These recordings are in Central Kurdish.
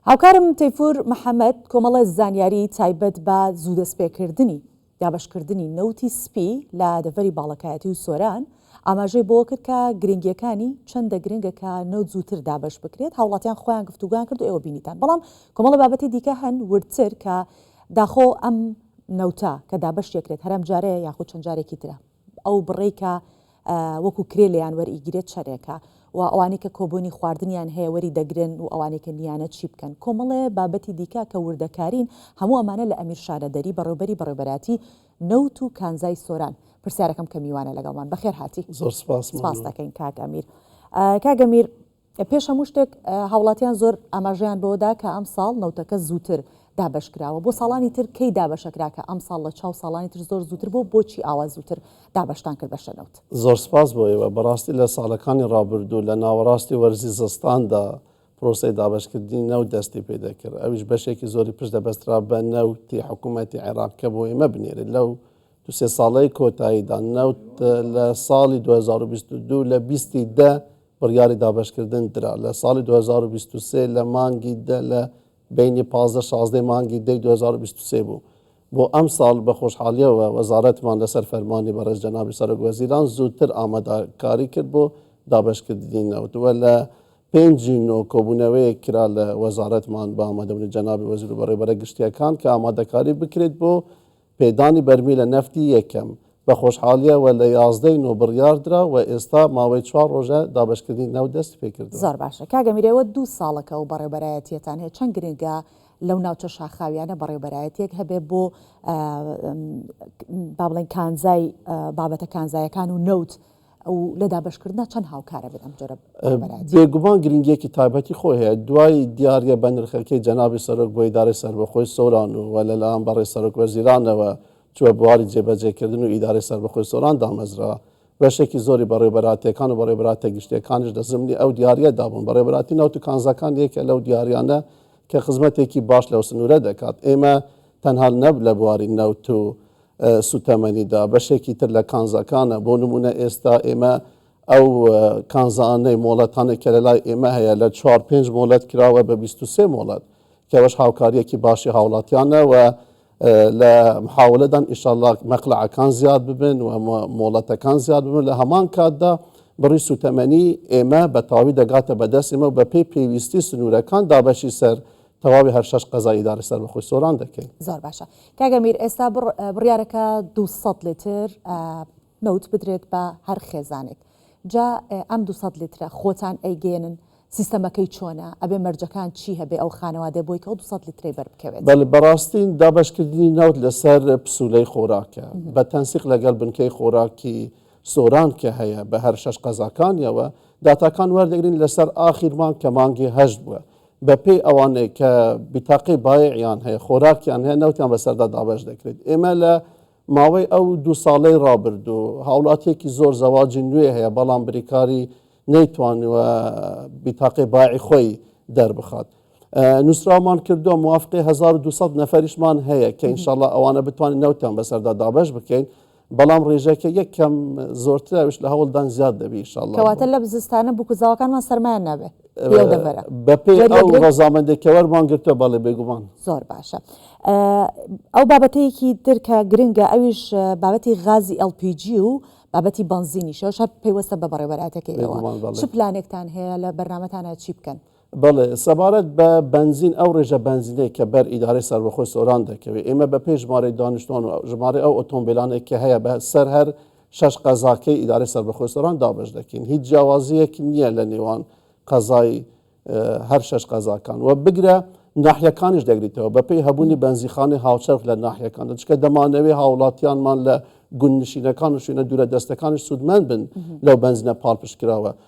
هاوکارم تەیفور محەمەد کۆمەڵە زانیاری تایبەت بە زوو دەستپێکردنی دابەشکردنی نەوتی سپی لە دەڤەری باڵەکایەتی و سۆران ئاماژەی بۆ کرد کە گرنگیەکانی چەندە گرنگە کە نەوت زووتر دابەش بکرێت هاوڵاتیان خۆیان گفتوگویان کرد و ئێوە بینیتان بەڵام کۆمەڵە بابەتی دیکە هەن وردتر کە داخۆ ئەم نەوتە کە دابەش یەکرێت هەرم جارەیە یاخود چەند جارێکی ترە ئەو بڕەی کە وەکو کرێ لێیان وەرئیگیرێت چەنێکە و ئەوانەی کە کۆبۆنی خواردنیان هەیە وەری دەگرن و ئەوانەی کە نیانە چی بکەن؟ کۆمەڵێ بابەتی دیکە کە وردەکارین هەموو ئەمانە لە ئەمیر شانە دەری بەڕێوبەری بەڕێوبەراتی نەوت و کانزای سۆران پرسیارەکەم کە میوانە لەگەڵمان بەخێرهاتی سپاس دەکەین کاک ئەمیر کاک ئەمیر پێش هەموو شتێک هاوڵاتیان زۆر ئاماژەیان بەوەدا کە ئەمساڵ نەوتەکە زووتر دابەش کراوە بۆ ساڵانی تر کەی دابەشەکرا کە ئەمساڵ لە چاو ساڵانی تر زۆر زووتر بوو بۆچی ئاوا زووتر دابەشتان کرد بەشە نەوت؟ زۆر سپاس بۆ ئێوە، بەڕاستی لە ساڵەکانی ڕابردوو لە ناوەڕاستی وەرزی زستاندا پرۆسەی دابەشکردنی نەوت دەستی پێ دەکرد ئەویش بەشێکی زۆری پشت دەبەسترا بە نەوتی حکوومەتی عێراق کە بۆ ئێمە بنێرێت لەو دوو سێ ساڵەی کۆتاییدا نەوت لە ساڵی دوو هەزار و بیست و دوو لە بیستی دە بڕیاری دابەشکردن درا لە ساڵی دوو هەزار و بیست و سێ لە مانگی دە لە بەینی پازدە شازدەی مانگی دەی دوو هەزار و بیست و سێ بوو بۆ ئەمساڵ بە خۆشحاڵیەوە وەزارەتمان لەسەر فەرمانی بەڕێز جەنابی سەرۆک وەزیران زووتر ئامادەکاری کرد بۆ دابەشکردنی نەوت وە لە پێنجی نۆ کۆبوونەوەیەک کرا لە وەزارەتمان بە ئامادەبوونی جەنابی وەزیر و بەڕێوەبەرە گشتیەکان کە ئامادەکاری بکرێت بۆ پێدانی بەرمیلە نەفتی یەکەم بە خۆشحاڵییەوە لە یازدە ی نۆ بڕیار درا و ئێستا ماوەی چوار رۆژە دابەشکردنی نەوت دەستی پێ کردووە. زۆر باشە کاک ئەمیر ئێوە دوو ساڵەکە ئەو بەڕێوبەرایەتیەتان هەیە چەند گرنگە لەو ناوچە شاخاویانە بەڕێوبەرایەتیەک هەبێ بۆ با بڵێن کانزای بابەتە کانزایەکان و نەوت و لە دابەشکردنا چەند هاوکارە بێت ئەم جۆرە ڕابەرایەتیە؟ بێگومان گرنگیەکی تایبەتی خۆی هەیە، دوای دیاریە بەنرخەکەی جەنابی سەرۆک بۆ ئیدارەی سەربەخۆی سۆران و وە لەلایەن بەڕێز سەرۆک وەزیرانەوە چوە بواری جێبەجێکردن و ئیدارەی سەربەخۆی سۆران دامەزرا، بەشێکی زۆری بەڕێوەبەرایەتیەکان و بەڕێوەبەرایەتیە گشتیەکانیش لە زمنی ئەو دیاریەدا بوون، بەڕێوەبەرایەتی نەوت و کانزاکان یەکێکە لەو دیاریانە کە خزمەتێکی باش لەو سنورە دەکات، ئێمە تەنها نە لە بواری نەوت و سووتەمەنیدا بەشێکی تر لە کانزاکانە، بۆ نموونە ئێستا ئێمە ئەو کانزانەی، مۆڵەتانەی کە لەلای ئێمە هەیە لە چوار پێنج مۆڵەت کراوە بە بیست و سێ مۆڵەت کە ئەوەش هاوکارییەکی باشی هاوڵاتیانە و لە محاولەدان ئیشەڵا مەقلەعەکان زیاد ببن و مۆڵەتەکان زیاد ببن لە هەمان کاتدا بڕی سوتەمەنی ئێمە بە تاوی دەگاتە بەدەست ئێمە و بەپێی پێویستی سنوورەکان دابەشی سەر تەواوی هەر شەش قەزای ئیدارەی سەربەخۆی سۆران دەکەین. زۆر باشە کاک ئەمیر ئێستا بڕیارەکە دوو سەد لیتر نەوت بدرێت بە هەر خێزانێک جا ئەم دوو سەد لیترە خۆتان ئەیگەێنن سیستەمەکەی چۆنە ئەبێ مەرجەکان چی هەبێ ئەو خانەوادێ بۆی کە ئەو دوسە لیتری بەر بکەوێت بەل بەڕاستین دابشکردنی ناوت لەسەر پسولەی خۆراکە بە تەنسیق لەگەڵ بنکەی خۆراکی سۆران کە هەیە بە هەر شەش قەزاکانیەوە داتاکان وەردەگرین لەسەر ئاخیرمان کە مانگی هەشت بووە بە پێی ئەوانەی کە بیتاقەی بایعیان هەیە، خۆراکیان هەیە، نەوتیان بەسەردا دابەش دەکرێت. ئێمە لە ماوەی ئەو دوو ساڵەی ڕابردوو، هاوڵاتییەکی زۆر زەواجی نوێ هەیە، بەڵام بریکاری نەیتوانیوە بیتاقەی بایعی خۆی دەربخات. نووسراومان کردووە، موافقەی هەزار و دوو سەد نەفەریشمان هەیە کە ئینشاڵڵا ئەوانە بتوانین نەوتیان بەسەردا دابەش بکەین، بەڵام ڕێژەکە یەک کەم زۆرتراویش لە هەوڵدان زیاد دەبی شڵ کەواتە لە بزستانە بکوزاوەکانمان سەرمایان نابێت بەپی ڕزامەندێکەوەرمان گرتە بەڵێ بێگومان زۆر باشە ئەو بابەتەیەکی درکە گرنگە ئەویش بابەتی غازی LPG و بابەتی بنزینی شەوشە پێیوەستە بە بەڕێوەراتەکەیەوە چ پلانێکتان هەیە لە بەرنمەتانە چی بکەن بەڵێ سەبارەت بە بەنزین ئەو ڕێژە بەنزینەی کە بەر ئیدارەی سەربەخۆی سۆران دەکەوێت ئێمە بە پێی ژمارەی دانیشتوان و ژمارەی ئەو ئۆتۆمبیلانێک کە هەیە بە سەر هەر شەش قەزاکەی ئیدارەی سەربەخۆی سۆران دابەش دەکەین هیچ جیاوازیەک نییە لە نێوان قەزای هەر شەش قەزاکان و بگرە ناحیەکانیش دەگریتەوە بە پێی هەبوونی بەنزیخانی هاوچەرخ لە ناحیەکان دەچکە دەمانەوەی هاوڵاتیانمان لە گوندنشینەکان و شوێنە دوورە دەستەکانش سوودمەند بن لەو بەنزینە پاڵپشتکراوە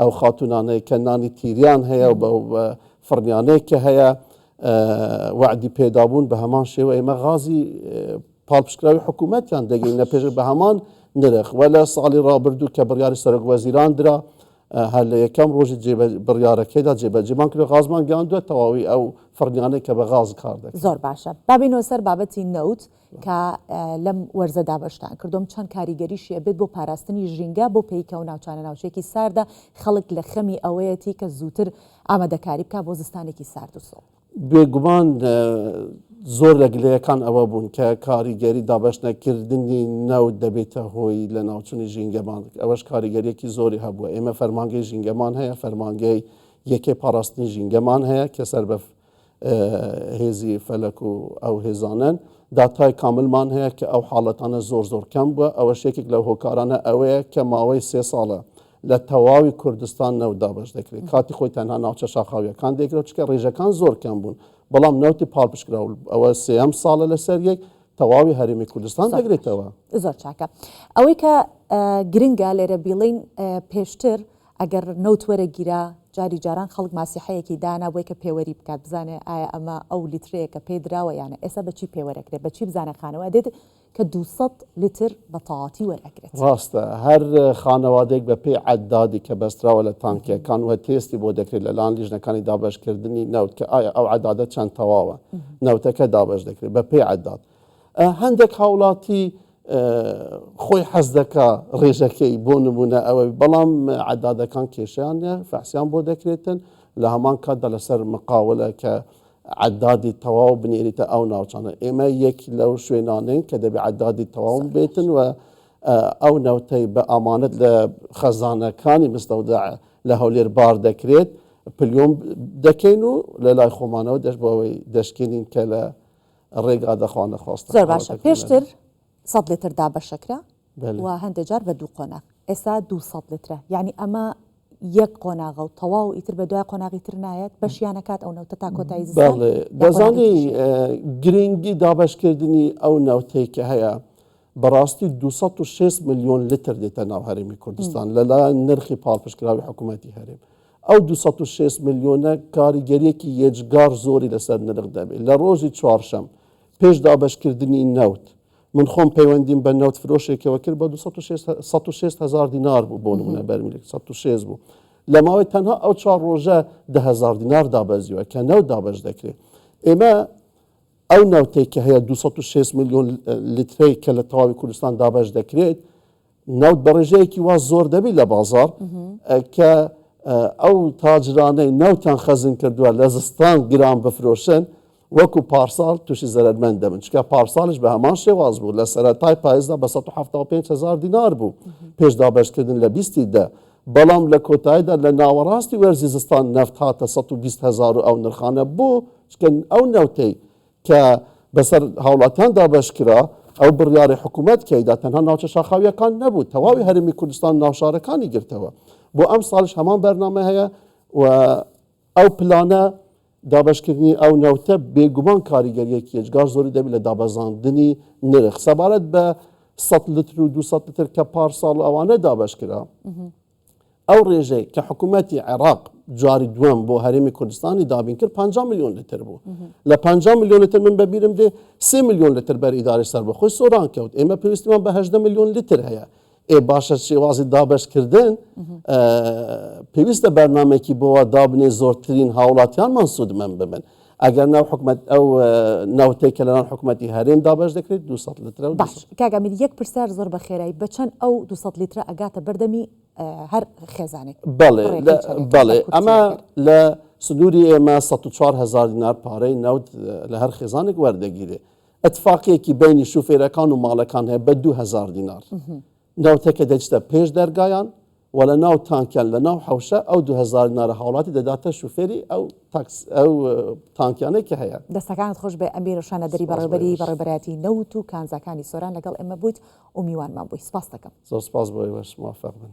ئەو خاتونانەی کە نانی تیریان هەیە و بەو فڕنیانەی کە هەیە وعدی پێدابوون بە هەمان شێوە ئێمە غازی پاڵپشکراوی حکوومەتیان دەگەین نە پێش بە هەمان نرخ وە لە ساڵی ڕابردوو کە بڕیاری سەرۆک وەزیران درا هەر لە یەکەم ڕۆژی بڕیارەکەیدا جێبەجێمان کرد غازمان گەیاندووە تەواوی ئەو فڕنیانەی کە بە غاز کار دەکەن زۆر باشە بابینەوە سەر بابەتی نەوت کە لەم وەرزە دابەشتان کردووم چەند کاریگەریشی ئەبێت بۆ پاراستنی ژینگە بۆ پێی کە ئەو ناوچانە ناوچەیەکی ساردە خەڵک لە خەمی ئەوەیەتی کە زووتر ئامادەکاری بکات بۆ زستانێکی سارد و سڵ. بێگومان زۆر لە گلەیەکان ئەوە بوون کە کاریگەری دابەشنەکردنی نەوت دەبێتە هۆی لەناوچوونی ژینگەمان ئەوەش کاریگەریەکی زۆری هەبووە ئێمە فەرمانگەی ژینگەمان هەیە فەرمانگەی یەکەی پاراستنی ژینگەمان هەیە کە سەر بە هێزی فەلەک و ئەو هێزانەن. داتای کاملمان هەیە کە ئەو حاڵەتانە زۆر زۆر کەم بووە، ئەوەش یەکێک لە هۆکارانە ئەوەیە کە ماوەی سێ ساڵە لە تەواوی کوردستان نەوت دابەش دەکرێت، کاتی خۆی تەنها ناوچە شاخاوییەکان دەیکرا، چونکە ڕیژەکان زۆر کەم بوون، بەڵام نەوتی پاڵپشتکراو ئەوە سێیەم ساڵە لەسەر یەک تەواوی هەرێمی کوردستان دەگرێتەوە. زۆر چاکە. ئەوەی کە گرنگە لێرە بیڵێین، پێشتر ئەگەر نەوت وەرەگیرا، جاری جاران خەڵک ماسیحەیەکی دانا بۆی کە پێوەری بکات بزانێ ئایا ئەمە ئەو لیترەیە کە پێی دراوە یان نا، ئێستا بە چی پێوەر ئەکرێ، بە چی بزانێ خانەوە دێت کە دوو سەد لیتر بە تەواتی وەر ئەگرێت. ڕاستە هەر خانەوادەیەک بە پێی عەدادی کە بەستراوە لە تانکیەکان وە تێستی بۆ دەکرێت لە لایەن لیژنەکانی دابەشکردنی نەوت کە ئایا ئەو عەدادە چەند تەواوە نەوتەکە دابەش دەکرێت بە پێی عەداد. هەندێک هاوڵاتی خۆی حەز دەکا ڕێژەکەی بۆ نمونە ئەوە بەڵام عدادەکان کێشیان فەحسیان بۆ دەکرێتن لە هەمان کاتدا لەسەر مقاولە کە عدادی تەواو بنێریتە ئەو ناوچانە ئێمە یەک لەو شوێنانین کە دەبێ عدادی تەواو بێتن و ئەو نەوتەی بە ئامانەت لە خەزانەکانی مستەودا لە هەولێر بار دەکرێت پلیۆم دەکەین و لە لای خۆمانەوە دەش بۆەوەی دەشکێنین کە لە ڕێگا دەخوانە خواستە زۆر باشە قامەتەکەی من. پێشتر سەد لتر دابەشەکرا بەلێ. و هەندێ جار بە دوو قۆناغ ئێسا دوو سەد لترە یانی ئەمە یەک قۆناغە و تەواو ئیتر بە دوای قۆناغی تر نایەت بەشیان نەکات ئەو نەوتە تا کۆتایی زستان بەڵێ یا قۆناغی دەزانی تریشی هەیە گرینگی دابەشکردنی ئەو نەوتەی کە هەیە بەڕاستی دوو سەد و شێست ملیۆن لتر دێتە ناو هەرێمی کوردستان لەلایەن نرخی پاڵپشتکراوی حکوومەتی هەرێم ئەو دوو سەد و شەست ملیۆنە کاریگەریەکی یەجگار زۆری لەسەر نرخ دەبێت لە ڕۆژی چوارشەم پێش دابەشکردنی نەوت من خۆم پەیوەندیم بە نەوت فرۆشێکەوە کرد بە سەد و شێست هزار دینار بوو بۆ نمونە بەرمیلێک سەد و شێست بوو لە ماوەی تەنها ئەو چوار ڕۆژە دە هزار دینار دابەزیوە کە نەوت دابەش دەکرێت ئێمە ئەو نەوتێک کە هەیە 260 میلیۆن لیترەی کە لە تەواوی کوردستان دابەش دەکرێت نەوت بە ڕێژەیەکی وا زۆر دەبیت لە بازار کە ئەو تاجرانەی نەوتان خەزن کردووە لە زستان گران بفرۆشن وەکو پارساڵ تووشی زەرمەند دەبن چکە پارساڵش بە هەمان شێواز بوو لە سەرەتای پایزدا بە 1970هزار دینار بوو پێش دابشکردن لە بیستی دە بەڵام لە کۆتاییدا لە ناوەڕاستی وەرزی زستان نەفت هاتە 120هزار و ئەو نرخانە بۆ چکن ئەو نەوتەی کە بەسەر هاوڵاتیان دابەش کرا، ئەو بڕیاڕی حکوومەت تیایدا تەنها ناوچە شاخاوییەکان نەبوو، تەواوی هەرێمی کوردستان و ناوشارەکانی گرتەوە. بۆ ئەمساڵیش هەمان بەرنامە هەیە و ئەو پلانە دابەشکردنی ئەو نەوتە بێگومان کاریگەرییەکی ئێجگار زۆری دەبێت لە دابەزاندنی نرخ. سەبارەت بە سەد لتر و دوو سەد لتر کە پارساڵ و ئەوانە دابەش کرا، ئەو ڕێژەی کە حکوومەتی عێراق جاری دووەم بۆ هەرێمی کوردستانی دابین کرد 50 میلیۆن لتر بوو لە 50 میلیۆن لتر من بەبیرم دێ سێ میلیۆن لتر بەر ئیدارەی سەربەخۆی سۆران کەوت ئێمە پێویستمان بە هەژدە میلیۆن لتر هەیە ئێ باشە شێوازی دابەشکردن پێویستە بەرنمێکی بۆوە دابنێ زۆرترین هاوڵاتیانمان سوودمەند ببن ئەگەر ناو حکومت ئەو ناوتەی کە لەناو حکوومەتتی هەرێن دابش دەکرێت 200 لتر و باش کاگەمیر یەک پرسیار زۆر بە خێرایی بەچەند ئەو 200 لیترە ئەگاتە بەردەمی هەر خێزانێک بەڵێ بەڵێ ئەمە لە سنووری ئێمە 4هزار دینار پارەی ناوت لە هەر خێزانێک وەردەگیرێ اتفاقێکی بینی شوفێرەکان و ماڵەکان هەیە بە 2000 دینار. ناوتەکە دەچتە پێش دەرگایان و لە ناو تانکیان لە ناو حەوشە ئەو دو هەزار نارە هاوڵاتی دەداتە شوفێری ئەو تاکس ئەو تانکیانەی کە هەیە. دەستەکانت خۆش بێ ئەمیر و شانەدەری سوپاس بۆ بەڕێوبەری ئێوەش بەڕێوبەرایەتی نەوت و کانزاکانی سۆران لەگەڵ ئێمە بوویت و میوانمان بووی سوپاست دەکەم. زۆر سوپاس بۆ ئێوەش موفق بن.